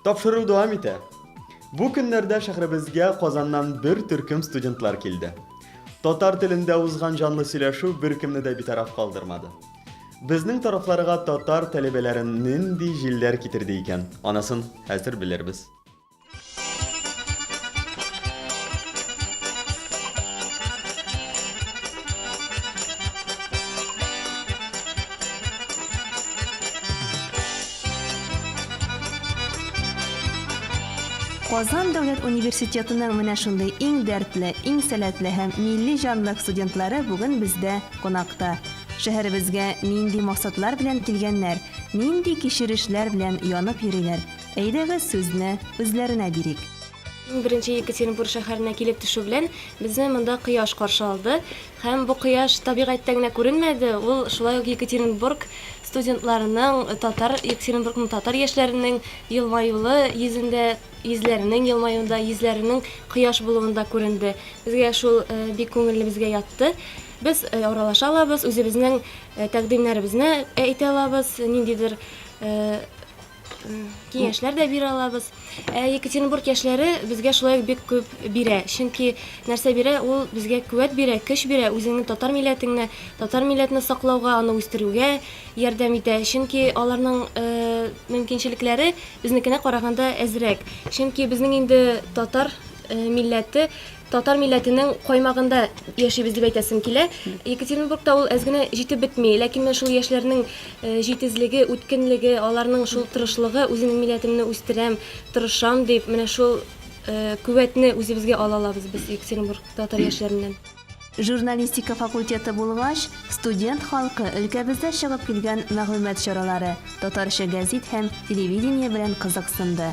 Тапшыру дәвам итә. Бу көннәрдә шәһребезгә Казаннан бер төркем студентлар килде. Татар телендә узган җанлы сөйләшү беркемне дә битараф калдырмады. Безнең тарафларга татар тәлебәләрен нинди җилләр китерде икән, анысын хәзер белербез. Казан дәүләт университетының менә шундый иң дәртле, иң сәләтле һәм милли җанлык студентлары бүген бездә кунакта. Шәһәребезгә нинди максатлар белән килгәннәр, нинди кичерешләр белән янып йөриләр, Әйдәгез сүзне үзләренә бирик. Иң беренче Екатеринбург шәһәренә килеп төшү белән безне монда кояш каршы алды. Һәм бу кояш табигатьтә генә күренмәде, ул шулай ук Екатеринбург студентларының, татар, Екатеринбургның татар яшьләренең елмаюлы йөзендә, йөзләренең елмаюында, йөзләренең кояш булуында күренде. Безгә шул бик күңелебезгә ятты. Без аралаша алабыз, үзебезнең тәкъдимнәребезне әйтә алабыз, ниндидер киңәшләр дә бирә алабыз. Ә Екатеринбург яшьләре безгә шулай бик күп бирә. Чөнки нәрсә бирә? Ул безгә куәт бирә, көч бирә, үзеңне татар милләтеңне, татар милләтне саклауга, аны үстерүгә ярдәм итә. Чөнки аларның э, мөмкинчелекләре безнекенә караганда әзрәк. Чөнки безнең инде татар э, милләте Татар милләтенең каймагында яшибез дип әйтәсем килә. Екатеринбургта ул әз генә җитеп бетми, ләкин менә шул яшьләрнең э, җитезлеге, үткенлеге, аларның шул тырышлыгы, үземнең милләтемне үстерәм, тырышам дип, менә шул э, күвәтне үзебезгә ала алабыз без Екатеринбург татар яшьләреннән. Журналистика факультеты булгач, студент халкы өлкәбездә чыгып килгән мәгълүмат чаралары, татарча гәзит һәм телевидение белән кызыксынды.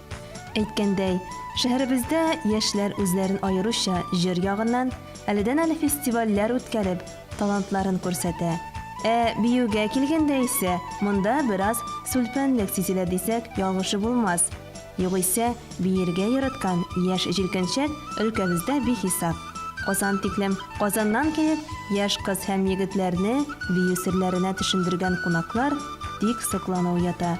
Әйткәндәй, шәһәребездә яшьләр үзләрен аеруча җыр ягыннан, әледән-әле фестивальләр үткәреп, талантларын күрсәтә. Ә биюгә килгәндә исә, монда бераз сүлпәнлек сизелә дисәк, ялгышы булмас. Югыйсә, биергә яраткан яшь җилкәнчәк өлкәбездә бихисап. Казан тиклем Казаннан килеп, яшь кыз һәм егетләрне бию серләренә төшендергән кунаклар, тик соклану уята.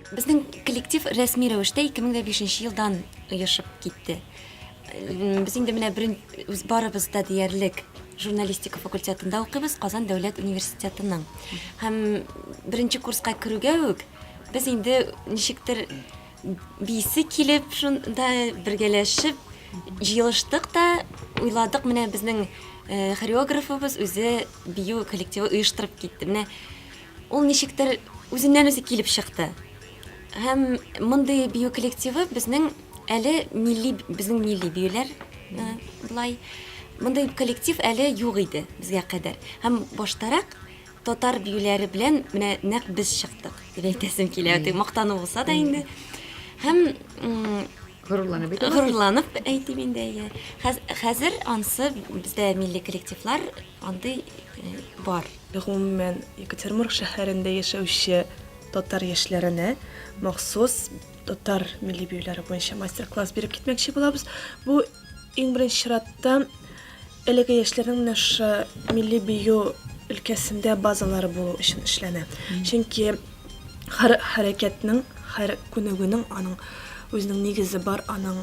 Безнең коллектив рәсми рәвештә 2005 нче елдан оешып китте. Без инде менә берен үз барыбыз да диярлек журналистика факультетында укыйбыз, Казан дәүләт университетының. Һәм беренче курска керүгә үк без инде ничектер биисе килеп шунда бергәләшеп җыелыштык та, уйладык, менә безнең хореографыбыз үзе бию коллективы оештырып китте. Менә Ул ничектер үзеннән-үзе килеп чыкты. Һәм мондый бию коллективы безнең әле милли безнең милли биюләр э, былай мондый коллектив әле юк иде безгә кадәр. Һәм баштарак татар биюләре белән менә нәкъ без чыктык дип әйтәсем килә. Мактану булса да инде. Һәм Горурланып әйтә аласыз? Горурланып әйтим инде, әйе. Хәзер ансы бездә милли коллективлар андый бар. Гомумән, Екатеринбург шәһәрендә яшәүче татар яшьләренә махсус татар милли биюләре буенча мастер-класс биреп китмәкче булабыз. Бу иң беренче чиратта Әлеге яшьләрнең менә шушы милли бию өлкәсендә базалары булу өчен эшләнә. Чөнки һәр хәрәкәтнең, һәр күнегүнең аның үзенең нигезе бар, аның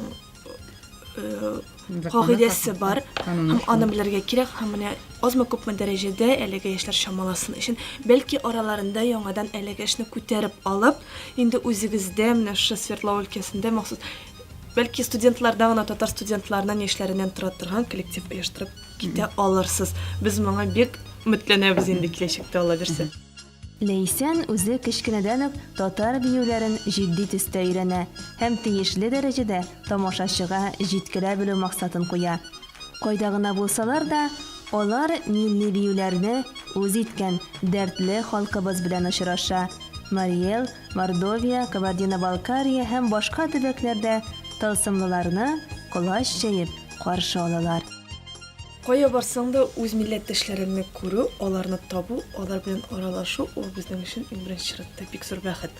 э, кагыйдәсе бар һәм аны белергә кирәк һәм менә азмы күпме дәрәҗәдә әлеге яшьләр чамаласын өчен бәлки араларында яңадан әлеге эшне күтәреп алып инде үзегездә менә шушы свердлов өлкәсендә махсус Бәлки студентларда гына татар студентларынан яшьләреннән тора торган коллектив оештырып китә алырсыз. Без моңа бик өметләнәбез инде киләчәктә ала бирсә. Ләйсән үзе кечкенәдән үк татар биюләрен җитди төстә өйрәнә һәм тиешле дәрәҗәдә тамашачыга җиткерә белү максатын куя. Кайда гына булсалар да, алар милли биюләрне үз иткән дәртле халкыбыз белән очраша, Мариэл Мордовия, Кабардино-Балкария һәм башка төбәкләрдә тылсымлыларны колач җәеп каршы алалар. Кая барсаң да, үз милләттәшләреңне күрү, аларны табу, алар белән аралашу, ул безнең өчен, иң беренче чиратта, бик зур бәхет.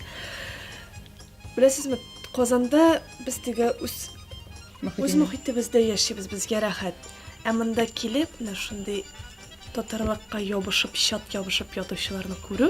Беләсезме, Казанда без теге үз үз мохитебездә яшибез, безгә рәхәт. Ә монда килеп, менә шундый татарлыкка ябышып, чат ябышып ятучыларны күрү,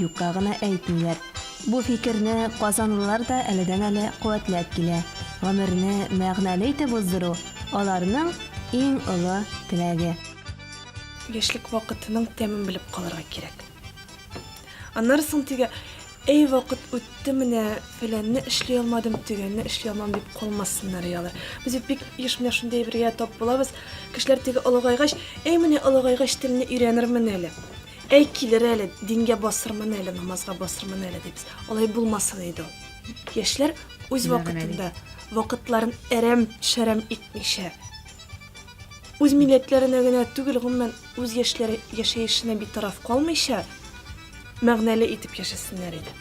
юкка гына әйтмиләр. Бу фикерне казанлылар да әледән-әле куәтләп килә. Гомерне мәгънәле итеп уздыру, аларның иң олы теләге. Яшьлек вакытының тәмен белеп калырга кирәк. Аннары соң тегә, Әй, вакыт үтте, менә фәләнне эшли алмадым, төгәнне эшли алмам, дип калмасыннар иде алар. Без бит бик еш менә шундый әйбергә тап булабыз. Кешеләр теге олыгайгач, Әй, менә олыгайгач телне өйрәнермен әле. Әй, килер әле, дингә басырмын әле, намазга басырмын әле дибез. Алай булмасын иде ул. Яшьләр үз вакытында вакытларын әрәм-шәрәм итмичә, үз милләтләренә генә түгел, гомумән, үз яшьләре яшәешенә битараф калмыйча, мәгънәле итеп яшәсеннәр иде.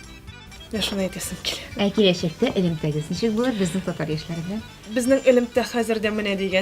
Менә шуны әйтәсем килә. Ә киләчәктә элемтәгез ничек булыр безнең татар яшьләре белән? Безнең элемтә хәзер дә менә дигән